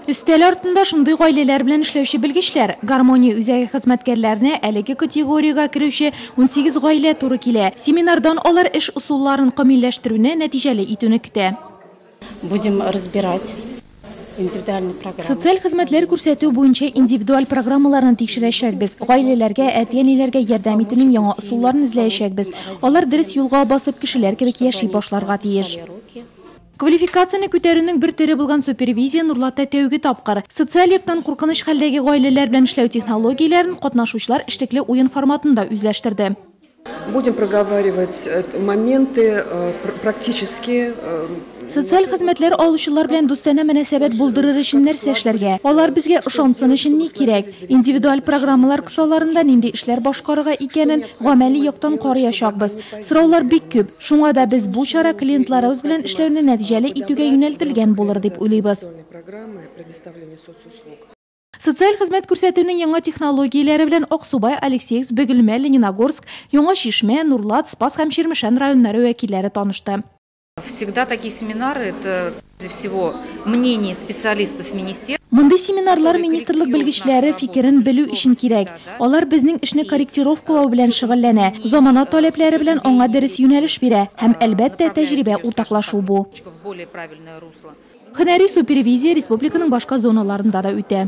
Өстәл артында шундый гаиләләр белән эшләүче белгечләр, Гармония үзәге хезмәткәрләренә әлеге категориягә керүче унсигез гаилә туры килә. Семинардан алар эш ысулларын камилләштерүне, нәтиҗәле итүне көтә. Будем разбирать индивидуальные программы. Социаль хезмәтләр күрсәтү буенча индивидуаль программаларны тикшерәчәкбез, гаиләләргә, әти-әниләргә ярдәм итүнең яңа ысулларын эзләячәкбез. Алар дөрес юлга басып, кешеләр кебек яши башларга тиеш. Квалификацияне күтәрүнең бер төре булган супервизия Нурлатта тәүге тапкыр. Социаль яктан куркыныч хәлдәге гаиләләр белән эшләү технологияләрен катнашучылар эшлекле уен форматында үзләштерде. Будем проговаривать моменты практически. Социаль хезмәтләр алучылар белән дустанә мөнәсәбәт булдырыр өчен нәрсә эшләргә? Алар безгә ышансын өчен ни кирәк? Индивидуаль программалар кысаларында нинди эшләр башкарырга икәнен гамәли яктан карыячакбыз. Сораулар бик күп, шуңа да без бу чара клиентларыбыз белән эшләүне нәтиҗәле итүгә юнәлтелгән булыр дип уйлыйбыз. Социаль хезмәт күрсәтүнең яңа технологияләре белән Аксубай, Алексеевск, Бөгелмә, Лениногорск, Яңа Чишмә, Нурлат, Спас һәм Чирмешән районнары вәкилләре танышты. Всегда такие семинары, это прежде всего мнение специалистов министерства. Мондый семинарлар министрлык белгечләре фикерен белү өчен кирәк. Алар безнең эшне корректировкалау белән шөгыльләнә, замана таләпләре белән аңа дөрес юнәлеш бирә һәм, әлбәттә, тәҗрибә уртаклашу бу. Һөнәри супервизия республиканың башка зоналарында да үтә.